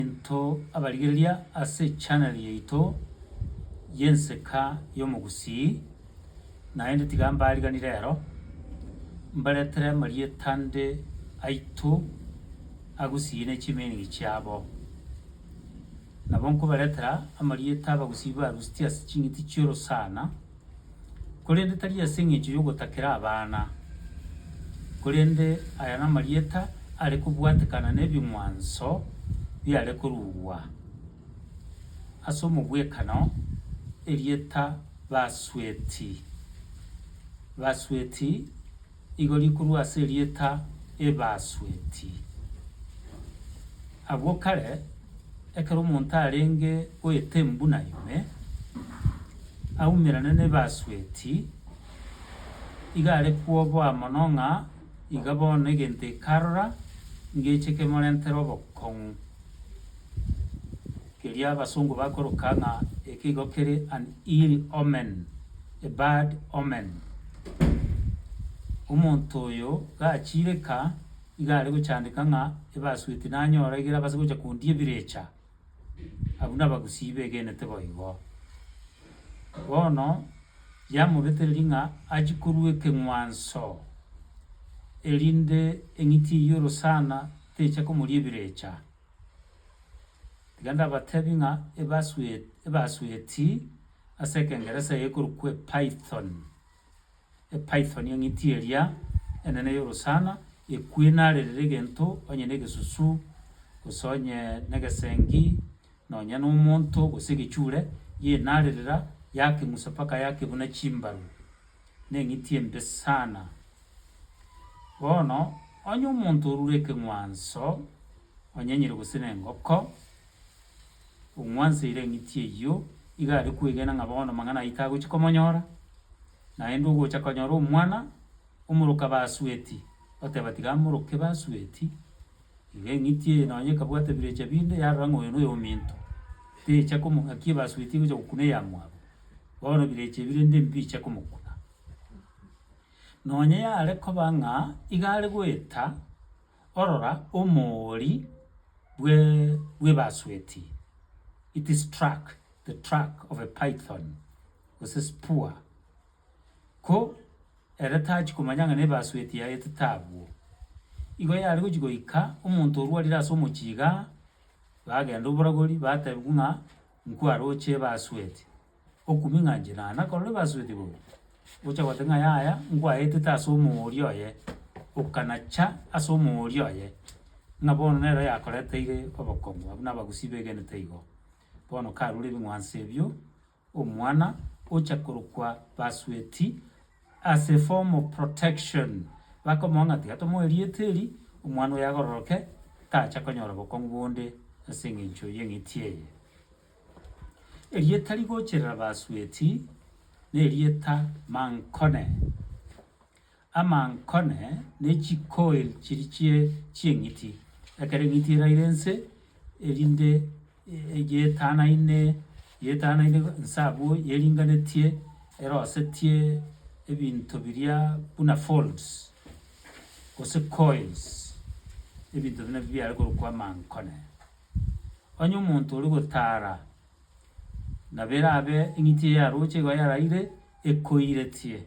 Into abarigereria ase channel yaito y'Enseka y'Omogusii, naende tiga mbarigani rero, mbaretere amarieta nde aito Agusii ne chimeaning chiabo. Nabo nkobaretera amarieta Abagusii barusitie ase ching'iti chi'orosana, korende tari ase engencho y'ogotakera abana, korende aya namarieta are kobwatekana nebing'wanso biare korugwa ase omogwekano, erieta Basweti. Basweti. Igo rikorwa ase erieta Ebasweti. Agwo kare, ekero omonto arenge goeta embuna ime, aumerane n'Ebasweti, iga are kwoboa mono ng'a iga bono egento ekarora ngeche kemorentere obokong'u, keria abasongo bakoroka ng'a eke igo kere an ill omen. A bad omen. Omonto oyo gachireka iga are gochandeka ng'a ebasueti nanyora egere abase gocha kondia ebirecha, abwo nabagusii begenete boigo. Bono yamobetereria ng'a achie korua ekeng'wanso, erinde eng'iti eyio orosana techa komoria ebirecha. Tiga ndabatebie ng'a ebasuet ebasueti. Ase ekengeresa eye ekorokwa Epython, Epython eng'iti eria enene y'orosana, ekwena are rire egento onye negesusu, gose onye negesengi, nonya nomonto gose egechure, yenarerera yakeng'usa mpaka yakebuna chimbaru. Neng'iti embe sana. Bono onye omonto orure ekeng'wanso onyenyire gose nengoko. Ong'wanseire eng'iti eyio, iga are kwegena ng'a bono mang'ana aitwe agochia komonyora, naende ogocha konyora omwana omoroka basueti, oteba tiga amoroke basueti, iga eng'iti eye nonye ekabwata ebirecha binde yarora ng'a oyo noyo ominto, techa komo ng'aki ebasueti egocha gokuna eyamwabo, bono ebirecha ebi rende mbiche komokuna. Nonye yare koba ng'a iga are goeta. Orora omoori bwe bw'ebasueti, it is track, the track of a python, gose spur, ko ere tachia komanya ng'a nebasueti yaye etete abwo. Igo yare gochia goika omonto orwarire ase omochie igaa, bagenda oboragori batebiwa ng'a nkwaroche ebasueti, okoming'anchera, na korora ebasueti bobe, gocha gote ng'a yaya nkwaetete ase omooria oye, okanacha ase omooria oye, ng'a bono nero yakoreteire obokongu abwo na abagusii begenete igo. Bono karure ebing'wanso ebio, omwana ocha korokwa basueti as a form of protection, bakomoa ng'a tiga tomoe erieta eri, omwana oyo agororoke, tacha konyora obokongu bonde ase eng'encho y'eng'iti eye. Erieta rigocherera Basweti nerieta Mankone. Amankone ne chikoil chiri chie chieng'iti, ekero eng'iti eraire ense, erinde yetanaine yetanaine nse abwo yeringanetie erosetie ebinto biria buna folds gose coils, ebinto buna ebi biare korokwa Mankone. Onye omonto ore gotara nabo erabe eng'iti eye aroche igo yaraire ekoiretie.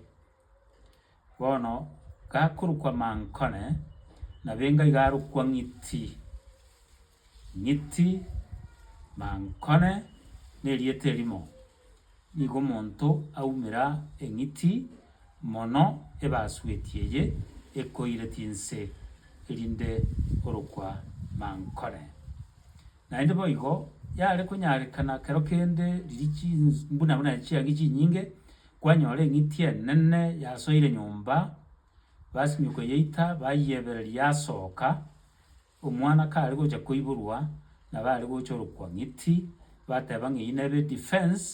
Bono gakorokwa mankone nabo enga iga arokwa ng'iti. Ng'iti, mankone, nerieta erimo. Nigo omonto aumera eng'iti mono ebasueti eye ekoire tinse, erinde orokwa mankore. Naende boigo yare konyarekana kero kende riria chins buna buna chiagi chinyinge, kwanyora eng'iti enene yasoire nyomba, basimia koyeita, bayebereria yasoka, Omwana kare gocha koiborwa nabo are gochorokwa ng'iti bateba ng'a eyio nebe defense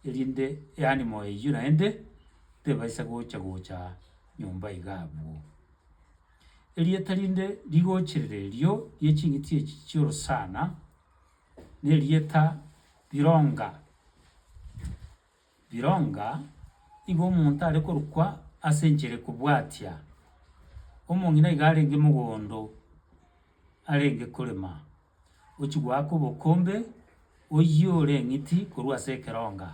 erinde eanimo eyio naende tebaisa gocha gocha nyomba iga abwo. Erieta rinde rigochirire erio rie ching'iti echi chi'orosana nerieta Bironga. Bironga igo omonto are korokwa ase enchera ekobwatia, omong'ina iga arenge mogondo arenge korema, ochia goaka obokombe, oyiore eng'iti korwa ase ekeronga,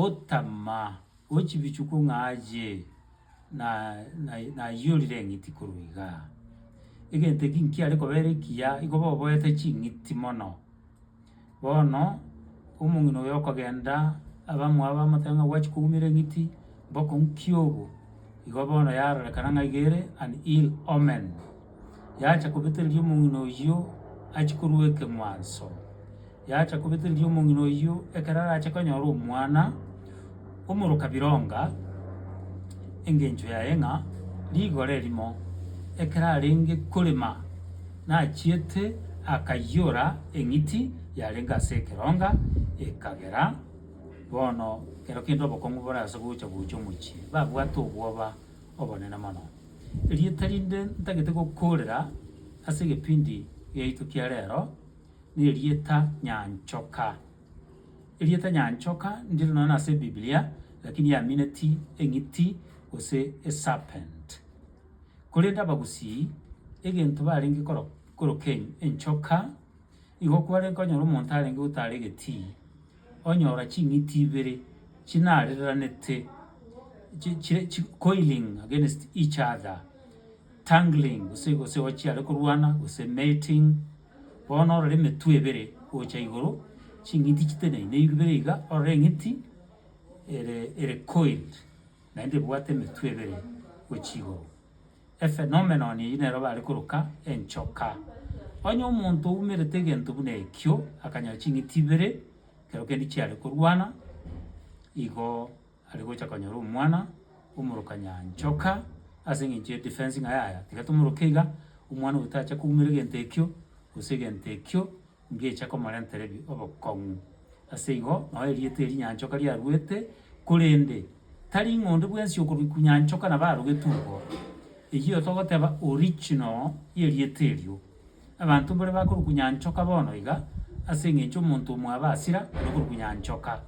otama ochibichuku ng'a aye na nayi nayiorire eng'iti korwa igaa. Egento eki nkiare koba ere ekiya, igo boboete ching'iti mono. Bono omong'ina oyo okogenda abamwabo bamotebia ng'a gwachi koumera eng'iti, mboko nki obo? Igo bono yarorekana ng'a iga ere an ill omen. Yacha kobetereria omong'ina oyio achie korua ekeng'wanso, yacha kobetereria omong'ina oyio ekero arache konyora omwana. Omoroka bironga engencho yaye ng'a rigoro erimo ekero arenge korema nachiete akaiyora eng'iti yarenge ase ekeronga ekagera. Bono ekero kende obokong'u bore ase gocha gocha omochie babwate obwoba obonene mono. Erieta rinde ntagete gokoorera ase egepindi giaito kia rero nerieta Nyanchoka. Erieta nyanchoka ndiro nonya ase Biblia, lakini yamineti eng'iti gose eserpent. Korende abagusii egento barenge koroka enchoka, igo kwarenge konyora omonto arenge gotara egetii, onyora ching'iti ibere chinareranete chire coiling against each other, tangling gose gose chiare korwana gose mating. Bono orore emetwe ebere gocha igoro, ching'iti chiteneine ibere iga, orore eng'iti ere ere coiled, naende ebwate emetwe ebere gochia igoro. Ephenomenon eyio nero bare koroka enchoka. Onye omonto oumerete egento buna ekio, akanyora ching'iti ibere, ekero kende chiare korwana, igo. Are gocha konyora omwana omoroka nyanchoka ase engencho ye defense ng'a yaya tiga tomoroke iga, omwana oyo tacha koumera egento ekio gose egento ekio ngecha komorentera ebi obokong'u. Ase igo noo erieta eri nyanchoka riaruete korende tari ng'a onde bwensi okorokwa nyanchoka nabo arogetwe igo. Eyio togoteba original y'erieta erio Abanto mbore bakorukunya nchoka bono iga, ase engencho omonto omwaba asira ore korukunya nchoka,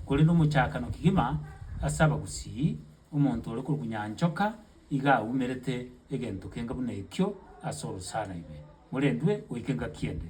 korende omochakano kegima ase abagusii, omonto ore korukunya nchoka iga aumerete egento kenga buna ekio ase orosana ime, morendwe goika engaki ende.